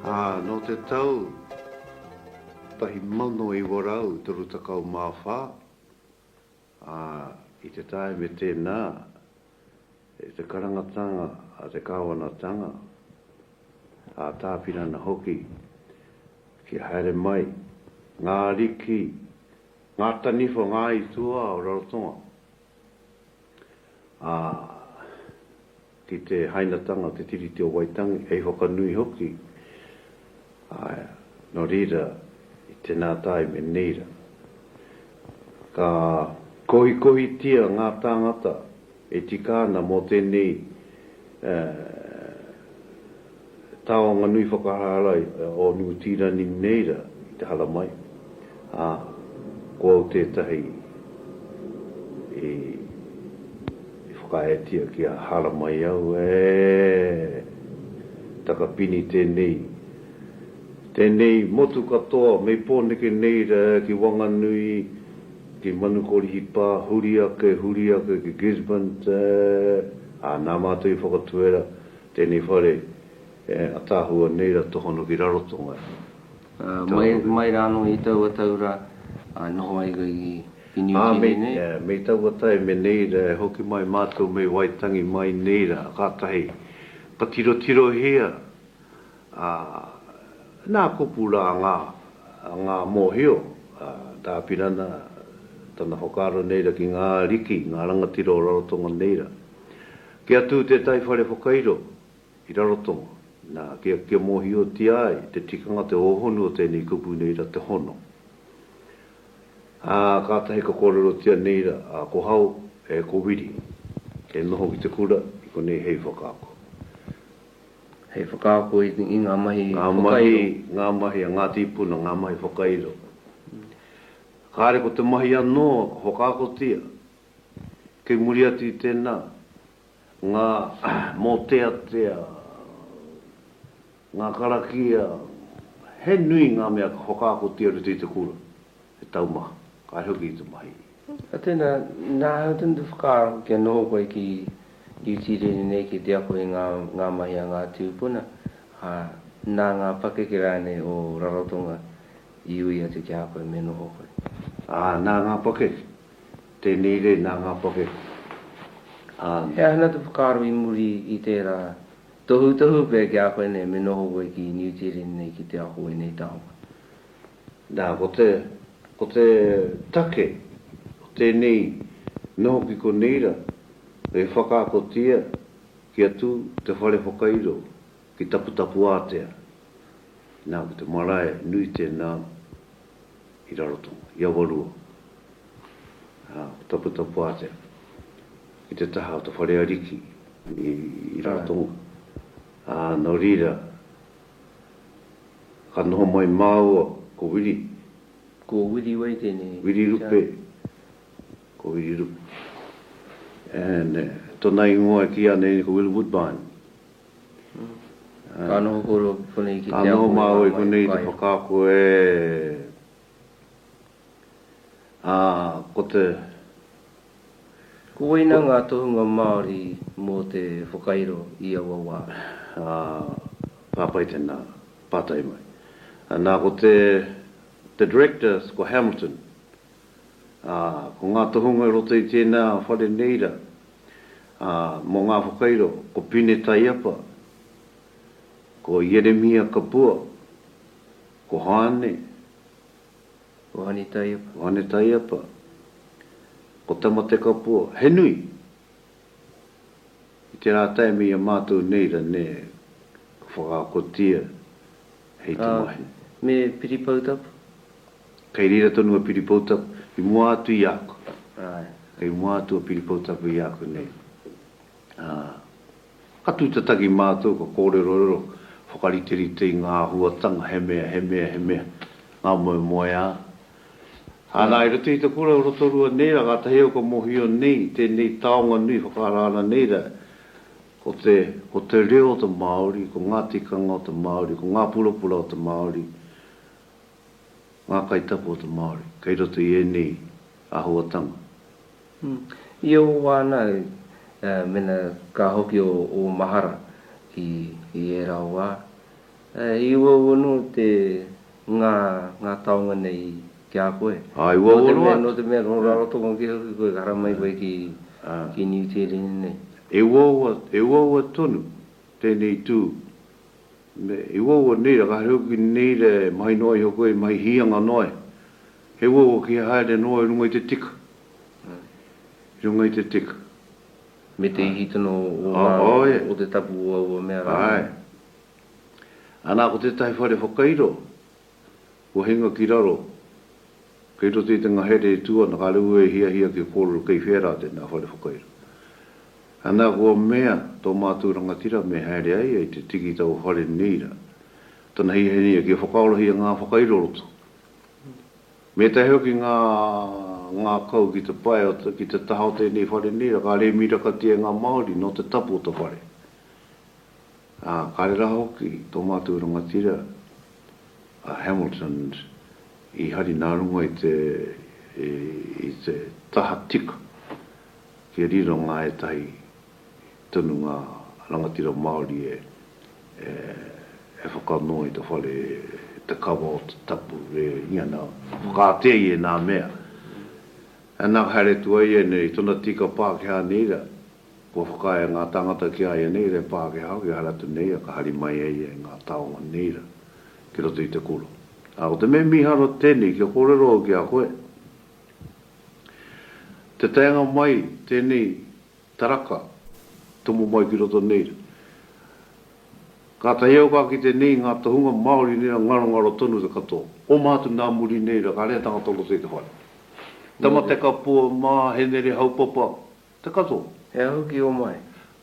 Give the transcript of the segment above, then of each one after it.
ā, nō te tau 1934, ā, i te tāime tēnā, i te karangatanga a te kāwanatanga, ā Tāpirana hoki, kia haere mai ngā ariki, ngā taniwha, ngā aituā o Rarotonga. ā, ki te hainatanga o te Tiriti o Waitangi, hei whakanui hoki, ā, nō reira, i tēnā tāime nei rā, ka kohikohitia ngā tāngata e tika ana mō tēnei, ā, Taonga nui whakahārai o Niu Tīrani nei rā i te haramai, ā, ko au tētahi i whakaaetia kia haramai au, ē, takapini tēnei, tēnei motu katoa mei Pōneke nei rā ki Wanganui, ki Manukorihipa, huri ake, huri ake ki Gisborne, ā, nā mātou i whakatuera Tēnei whare ataahua nei ra tohono ki Rarotonga. Mai rāno i taua tau ra noho ai koe ki Niu Tīni nei? Ā, mei taua tae me nei ra e hoki mai mātou mei Waitangi mai nei ra kātahi ka tirotirohia a nā kupu rā ngā mōhio a Tā Apirana tana whakaaro nei ra ki ngā ariki, ngā rangatira o Rarotonga nei ra Kia tū tētahi whare whakairo ki Rarotonga, nā, kia, kia mōhiotia ai te tikanga, te hōhonu o tēnei kupu nei ra, te hono. Ā, kātahi ka kōrerotia nei ra, ā, ko Hau, e, ko Wiri, e noho ki te kura i konei hei whakaako. Hei whakaako i, i ngā mahi whakairo. Ngā mahi, ngā mahi a ngā tīpuna, ngā mahi whakairo. Kāre ko te mahi anō ka whakaakotia. Kei muri atu i tēnā, ngā mōteatea, ngā karakia, he nui ngā mea ka whakaakotia rutu i te kura, he taumaha, kai hoki i te mahi. Ka tēnā, nā hau tonu te whakaaro kia noho koe ki UT rere nei ki te ako i ngā ngā mahi a ngā tūpuna, ā, nā ngā pakeke rānei o Rarotonga i ui atu ki a koe me noho koe? Ā, nā ngā pakeke. Tēnei rei nā ngā pakeke, ā. He aha ana te whakaaro i muri i tērā tohutohu pea ki a koe nei me noho koe ki Niu Tīreni nei ki te ako ēnei taonga? Nā, ko te, ko te take o tēnei noho ki konei rā, e whakaakotia kia tū te whare whakairo ki Taputapuātea. Nā, ko te marae nui tēnā. i Rarotonga, i Awarua, ā, ko Taputapuātea ki te taha o te whare ariki i Rarotonga. Ā, nō reira, ka noho mai māua ko Wiri. Ko Wiri wei tēnei? Wiri Rupe. Ko Wiri Rupe. And tōna ingoa e kīia ana nei ko Will Woodbine. Ka noho kōrua konei ki te apo i ngā wai. Ka noho māua konei i te whakaako e a ko te. Koina ngā tohunga Māori mō te whakairo i aua wā. Ka pai tēnā pātai mai. Nā ko te Director ko Hamilton. ā, ko ngā tohunga i roto i tēnā whare nei rā, ā, mō ngā whakairo, ko Pine Taiapa, ko Ieremia Kapua, ko Hāne, Hāne Taiapa, ko Hāne Taiapa, ko Tamate Kapua, he nui! I te rā tae me ia mātou nei ra nē, ka whakaakotia hei te mahi. Ā, me Piri Poutapu? Kei reira tonu a Piripoutapu, i mua atu i aku. Āe, i mua atu a Piripoutapu i aku nei. Ā, ka tūtataki mātou, ka kōrerorero, whakariterite i ngā āhuatanga, he mea, he mea, he mea, ngā moemoeā. Āna, i roto i te kura o Rotorua nei rā, kātahi au ka mōhio nei, i tēnei taonga nui whakaara ana nei rā, ko te, ko te reo o te Māori, ko ngā tikanga o te Māori, ko ngā purapura o te Māori, Ngā kaitako o te Māori kei roto i ēnei āhuatanga. I ō wānau, mēnā ka hoki ō mahara ki ērā wā, i uaua anō te ngā taonga nei ki a koe? Āe, uaua noa atu. Nō te mea, nō Rarotonga kē hoki koe, ka haramai koe ki Niu Tīreni nei. E uaua tonu tēnei tū Me he uaua nei ra, ka haere hoki nei ra e mahi noa iho koe, e mahi hianga noa e. He uaua ki he haere noa i runga i te tika. I runga i te tika. Me te ihi tino o nga, o te tapu o aua mea ra. Ae. Ana ko tetahi whare whakairo, Kua hinga ki raro, kei roto i te ngahere e tū ana, kāre au e hiahia kia kōrero kei whea rā tēnā whare whakairo. Anā kua mea tō mātou rangatira me haere ai ai te tiki tā ua whare nei rā. Tana hiahia kia whakaorohia ngā whakairo o roto. Me tae hoki ngā ngākau ki te pae, ki te taha o tēnei whare nei rā, kāre e mirakatia e ngā Māori nō te tapu o te whare. Ā, kāre rā hoki tō mātou rangatira a Hamilton i hari nā runga i te, i te taha tika kia riro ngā ētahi tonu ngā rangatira Māori e, e whakanoa i te whare, te kawa o te tapu, e hia nā, whakaātea i ēnā mea. Anā, haere atu ai ēnei tuna tika Pākehā nei rā. Kua whakaae ngā tāngata ki a ia nei re Pākehā ki Haratu nei a ka hari mai ai ia i ngā taonga nei ra ki roto i te kura. A ko te mea miharo tenei kia korero au ki a koe, te taenga mai tenei taraka tomo mai ki roto nei ra, katahi au ka kite nei i nga tohunga Maori nei ra ngarongaro tonu te katoa. Oma atu na muri nei ra ka rehe tangata o roto i te whare. Tamatekapua ma, Henere Haupapa, Te Kato, he aha hoki o mai?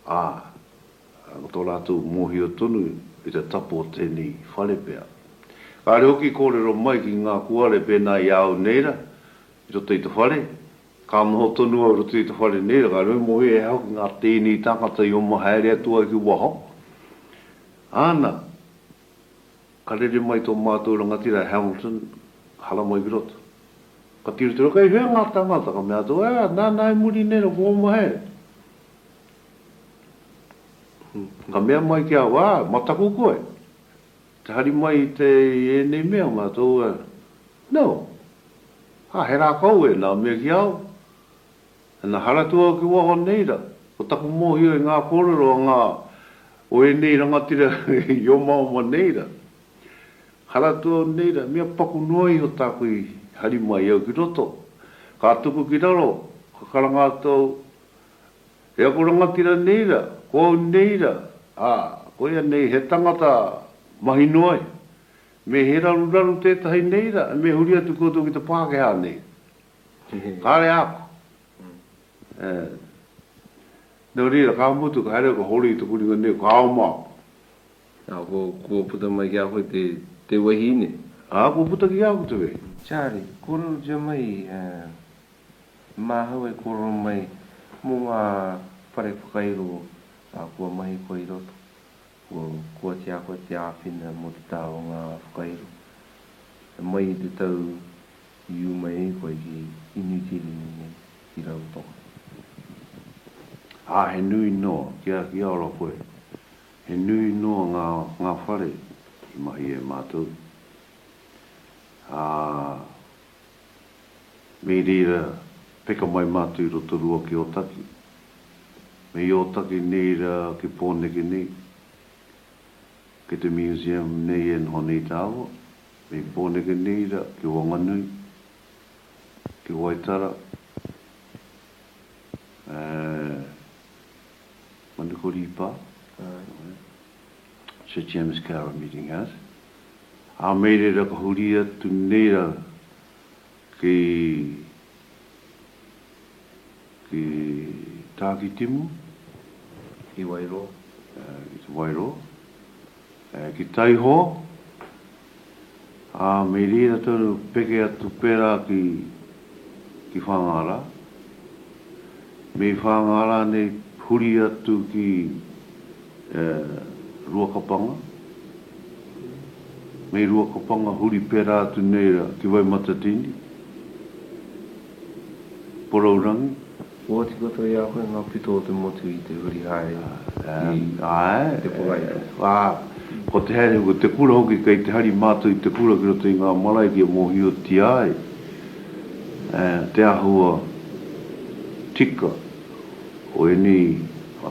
Ā, ko tō rātou mōhio tonu i te tapu o tēnei whare pea. Kāore hoki kōrero mai ki ngā kuare pēnā i a au nei rā, i roto i te whare, ka noho tonu au i roto i te whare nei rā, kāore me mōhio he aha hoki ngā tēnei tāngata i oma haere atu ai ki waho. Āna, Ka rere mai tō mātou rangatira Hamilton, haramai ki roto. Ka tiro tiro, kei hea ngā tāngata? Ka mea atu, ā, nāna i muri nei, rako oma he. Ka mea mai ki a au, ā, mataku koe? Te hari mai i te, i ēnei mea, mea tō, ā, no. Ā, he rākau ēnā, mea ki a au, Ina haratua au ki waho nei ra, ko taku mohio i nga korero a nga o enei rangatira i omaoma nei ra, haratua au nei ra, mea paku noa iho taku i hari mai au ki roto, ka tuku ki raro, ka karanga atu au, E aku rangatira nei ra, ko au nei ra, a, koia nei he tangata mahi noa iho. Me he raruraru tetahi nei ra, me huri atu koutou ki te Pakeha nei. Kāre āku. E. Nō reira, ka mutu, ka haere au ka hori i te huringa nei, ka ao mā. Ā, kua, kua puta mai ki a koe te, te wahine. Ā, kua puta ki a koe te wahine. Charlie, kōrerotia mai, e, māhau e kōrero mai mō ngā whare whakairo, ā, kua mahi koe i roto. Kua, kua tīa koe te āwhina mō te taha o ngā whakairo. E mai i te tau I uma e koe ki Inuikirini nei, ki Rarotonga. Ā, he nui noa, kia, kia ora koe. He nui noa ngā, ngā whare i mahi e mātou. Ā, me reira peka mai mātou i Rotorua ki Ōtaki. Me i Ōtaki nei rā ki Pōneke nei, ki te Museum nei e noho nei tāua. Me Pōnekeneira ki Wanganui, ki Waitara, ē, Manukorīpā, Sir James Kara Meeting House, ā, mei reira ka huri atu nei rau Ki te Tākitimu, ki te Wairō, ki Taiho, ā, me rira tonu peke atu pērā ki Whāngārā. Me whānga rānei huri atu ki Ruakapanga, me Ruakapanga huri pērā atu nei rā ki Waimatatini, Porourangi. Oati katoa i a koe ngā pito o te motu i te huri haere ki te kura i roto. Āe, ko te haere, ko te kura hoki, kei te hari mātou i te kura ki roto i ngā marae kia mōhiotia ai. Te āhua tika o ēnei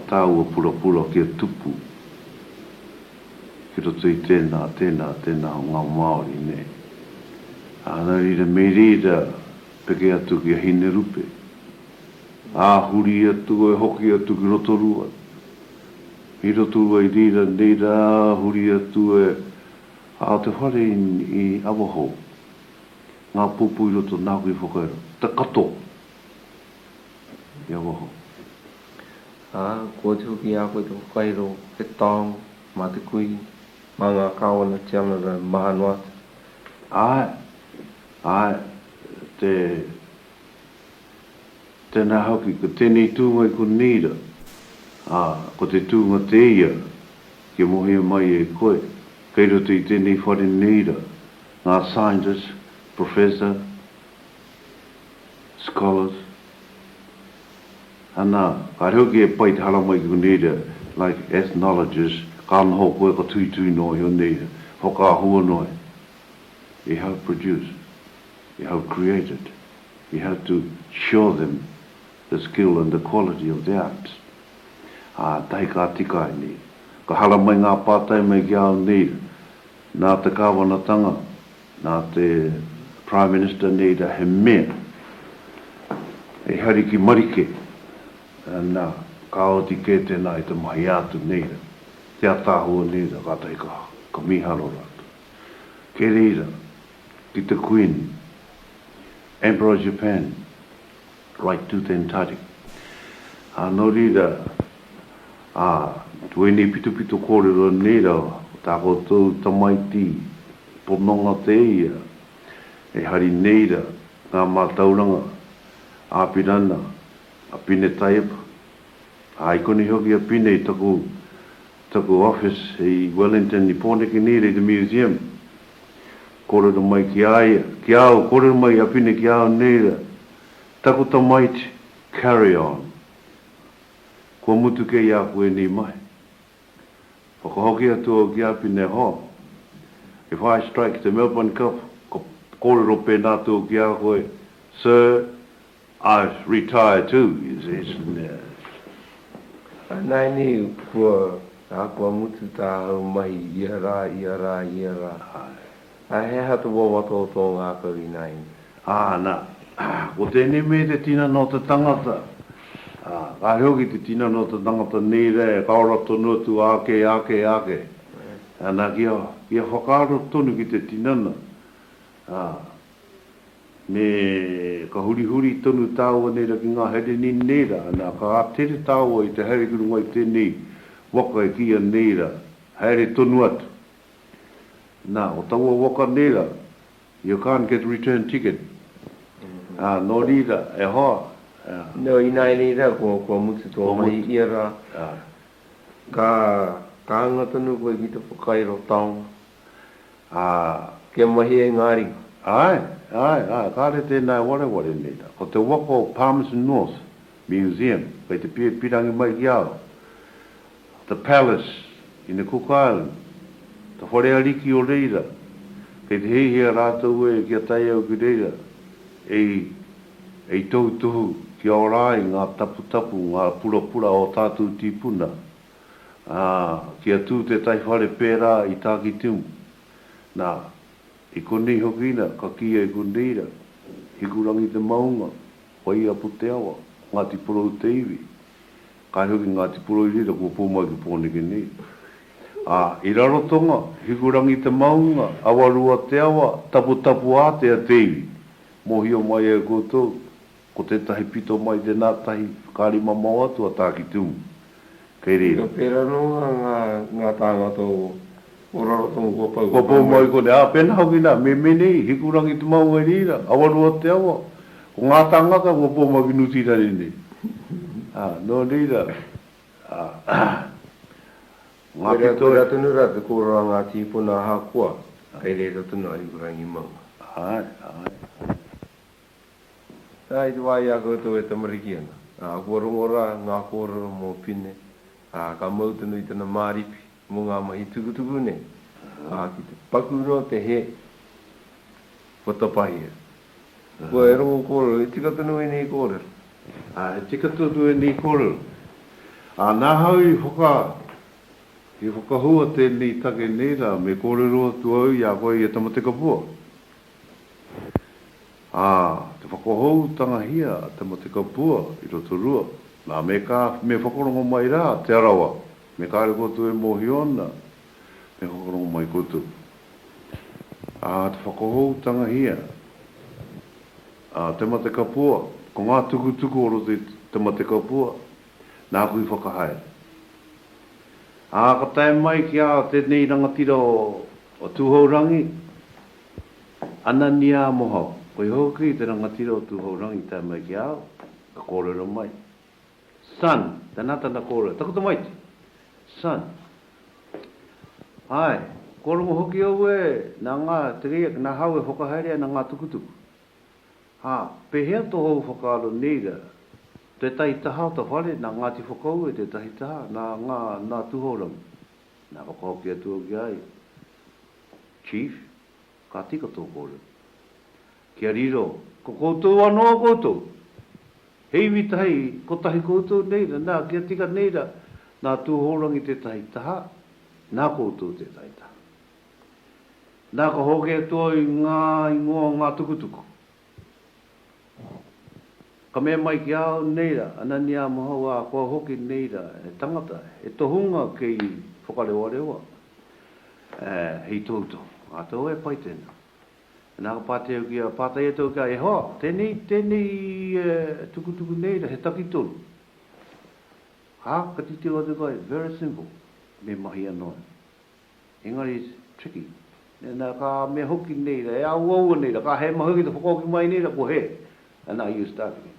tāua purapura kia tupu ki roto i tēnā, tēnā, tēnā o ngā Māori nei. Nā reira, me reira peke atu ki a Hinerupe, ā, huri atu ai, hoki atu ki Rotorua, i Rotorua i reira nei rā, huri atu e, ā, te whare i Awahou. Ngā pūpū i roto nāku i whakairo. Te kato i a waho. Ā, ko oti hoki i a koe te whakairo, he taonga, mā te kui, mā ngā kāwana tiana rau maha noa atu. Āe, āe, te, tēnā hoki, ko tēnei tūnga i konei rā, ā, ko te tūnga tēia rā, kia mohia mai e koe, kei roto i tēnei whare nei rā, Ngā scientists, professor, scholars, ana, kāre hoki e pai te haramai ki konēria, like ethnologists, ka noho koe, ka tuitui noa i onei he whakaahua noa i i have produced, i have created, you have to show them the skill and the quality of the arts. Ā, tahi ka tika ai nei. Ka haramai ngā pātai mai ki a au nei rā. Nā te Kāwanatanga, nā te Prime Minister nei rā, he mea hei hari ki Marike, nā, ka oti kē tēnā i te mahi ā-atu nei rā, te ātaahua nei rā, kātahi ka, ka mīharo rātou. Kei reira, ki te Kuini, Emperor of Japan, Right to then tari. Ā, nō reira, ā, ko ēnei pitopito kōrero nei rā, ko tā koutou tamaiti pononga tēia, e hari nei rā ngā mātauranga a Pirana, a Pine Taiepa, ā, i konei hoki a Pine i taku, taku office i Wellington i Pōneke nei, rei te museum. Kōrero mai ki a ia, ki a au, kōrero mai i a Pine ki a au, Nei rā, taku tamaiti, carry on. Kua mutu kei a koe ēnei mahi. Whakahoki atu au ki a Pine, Ho! If I strike the Melbourne Cup, ka kōrero pēnā atu au ki a koe, Sir, I've retired too, he says, and uh, Anainei kua ahakoa mutu tāhau mahi ia rā, ia rā, ia rā, ā, he aha te wawata o tō ngākau ināiane? Ā, nā, ko tēnei mea te tinana o te tangata, ā, kāre hoki te tinana o te tangata nei rā e kaora tonu atu āke, āke, āke. Nā, kia, kia whakaaro tonu ki te tinana, ā, Nē, ka hurihuri tonu tāua nērā ki ngā haere nini nei rā, nā, ka tere tāua i te haere ki runga i tēnei waka e kīia nei rā, haere tonu atu. Nā, ko taua waka nei rā, you can't get return ticket, ā, nō reira, e hoa, ā. Nō, ināianei rā, kua, kua mutu tō mahi ia rā, ka, ka hanga tonu koe ki te whakairo taonga. ā. Kia mahi e ngā ringa. Āe, āe, āe, kāre tēnā e wareware nei rā. Ko te waka o Palmerston North Museum, kei te pīrangi mai ki a au. The Palace in the Cook Islands, te whare ariki o reira, kei te hiahia rātou e kia tae au ki reira e i tautohu kia ora ai ngā taputapu, ngā purapura o tātou tīpuna. ā, kia tū tētahi whare pērā i Tākitimu. Nā, i konei hoki ina ka kīia e Kunreira, Hikurangi te maunga, Waiapu te awa, Ngāti Porou te iwi. Kāi hoki Ngāti Porou i reira kua pū mai ki Pōneke nei. Ā, i Rarotonga, Hikurangi te maunga, Awarua te awa, Taputapuātea te iwi. Mōhio mai ai koutou, Ko tētahi pito mai tēnā tahi whakaari mamao atu a Tākitimu. Kei reira. Pērā noa ngā tāngata o Rarotonga kua pau. Kua pau mai konei, ā, pēnā hoki nā, Memenei, Hikurangi te maunga i reira, Awaroa o te awa, ko ngā tāngata kua pau mai ki Nutirare nei. Ā, nō reira, ā, ngā pito. Koirā tonu rā te kōrero a ngā tīpuna ahakoa kei reira tonu a Hikurangi maunga. Āe, āe, āe. Ā, i te wā i a koutou e tamariki ana, ā, kua rongo rā ngā kōrero mō Pine, ā, ka mau tonu i tana māripi mō ngā mahi tukutuku nei, ā, ki te paku noa te hē, kua tapahia. Kua e rongo kōrero, he tika tonu ēnei kōrero. Ā, he tika tonu ēnei kōrero. Ā, nā hau i whaka, i whakahua tēnei take nei rā, me kōrero atu au i a koe i a Tamatekapua, Ā, te whakahoutangahia a te mate kapua i Rotorua, nā, me kā, me whakarongo mai rā Te Arawa, me kāre koutou e mōhio ana, me whakarongo mai koutou. Ā, te whakahoutangahia a te mate kapua, ko ngā tukutuku o roto i te mate kapua, nāku i whakahaere. Ā, ka tae mai ki ā tēnei rangatira o O Tūhourangi, Ananiā Mohau. Koia hoki te rangatira o Tūhourangi i tae mai ki a au, ka kōrero mai. Son, tēnā tana kōrero, taku tamaiti! Son, Āe, kua rongo hoki au e, nā ngā, te keiak, nā hau e whakahaere ana ngā tukutuku. Hā, pēhea tō hou whakaaro nei rā? Tētahi taha o ta whare, nā Ngāti Whakaue tētahi taha, nā, nā, nā Tūhourangi. Nā, whakahoki atu au ki a ia, Chief, ka tika tō kōrero. Kia riro, ko koutou anō koutou. He iwi tahi, kotahi koutou nei rā, nā, kia tika nei rā, nā Tūhourangi tētahi taha, nā koutou tētahi taha. Nā, ka hoki atu au i ngā ingoa o ngā tukutuku. Ka mea mai ki a au, Nei rā, Anania mahau ā, kua hoki nei rā he tangata, he tohunga kei whakarewarewa, ā, hei toutou. Ā, tau e pai tēnā. Nā, ka pātai au ki a, pātai atu au ki a Ihowa, Tēnei, tēnei tukutuku nei rā, he taki tonu? Ā, ka titiro atu koe, Very simple, me mahi anō. Engari it's tricky. Nena ka mea hoki nei ra, e auaua nei ra, ka he mahi hoki te whakahoki mai nei ra, ko he. And now you start again.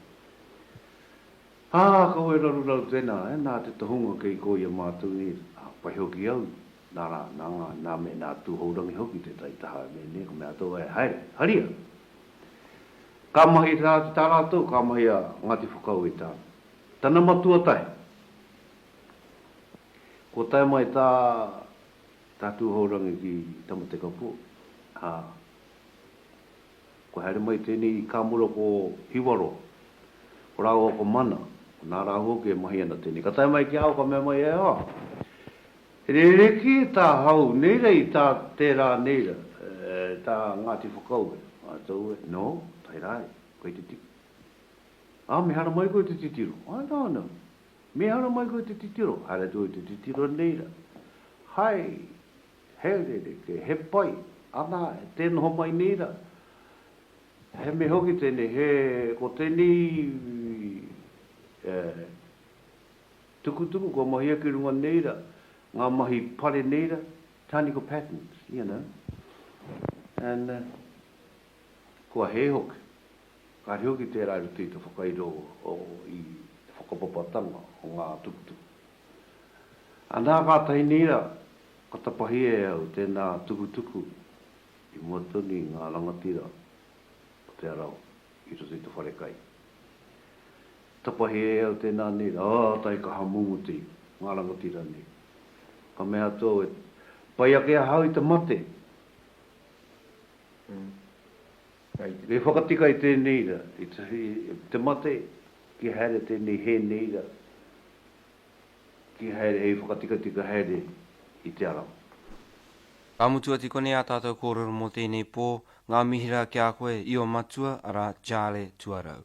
Ā, kau e raruraru tēnā, ē, nā te tohunga kei kō i a mātou nei, ā, pai hoki au, nā rā, nā ngā, nā me, nā Tūhourangi hoki tētahi taha e mea nei, ka mea atu au, ē, haere, haria. Ka mahi tā, tā rātou, ka mahi a Ngāti Whakaue i tāna. Tana matua tahi. Kua tae mai tā tā Tūhourangi ki Tamatekapō, ā, kua haere mai tēnei i kā mura ko Hiwaroa, ko rāua ko Mana, ko nā rāua hoki e mahi ana tēnei. Ka tae mai ki a au ka mea mai e au, ā, he rerekē tā hau nei rā i tā tērā nei rā, tā Ngāti Whakaue. Ā, tau e, no, tae rā e, koe te tiki. Ā, mehara mai koe te titiro. Ā, nāna. Me hara mai koe te titiro, haere atu au te titiro nei ra. Hai, he rerekē, he pai, ana, tē noho mai nei ra. He mea hoki tēnei, he, ko tēnei tukutuku kua mahia ki runga nei ra, ngā mahi pare nei ra, Tānika Patterns, you know, and kua hē hoki. Kāre hoki tērā i roto i te whakairo i te whakapapatanga o ngā tukutuku. Anā kātahi nei rā, ka tapahia e au tēnā tukutuku i mua tonu i ngā rangatira o Te Arawa i roto i te wharekai. Tapahia e au tēnā nei rā, ā tae ka hamuti ngā rangatira nei. Ka mea atu au e pai ake ahau i te mate. Kei whakatika i tēnei ra, i te mate, kia haere tēnei hē nei ra, kia haere hei whakatikatika haere i te arau. Ka mutu ati konei ā tātou kōrero mō tēnei pō, ngā mihi rā ki a koe, Io Matua, arā, Charlie Tuarau.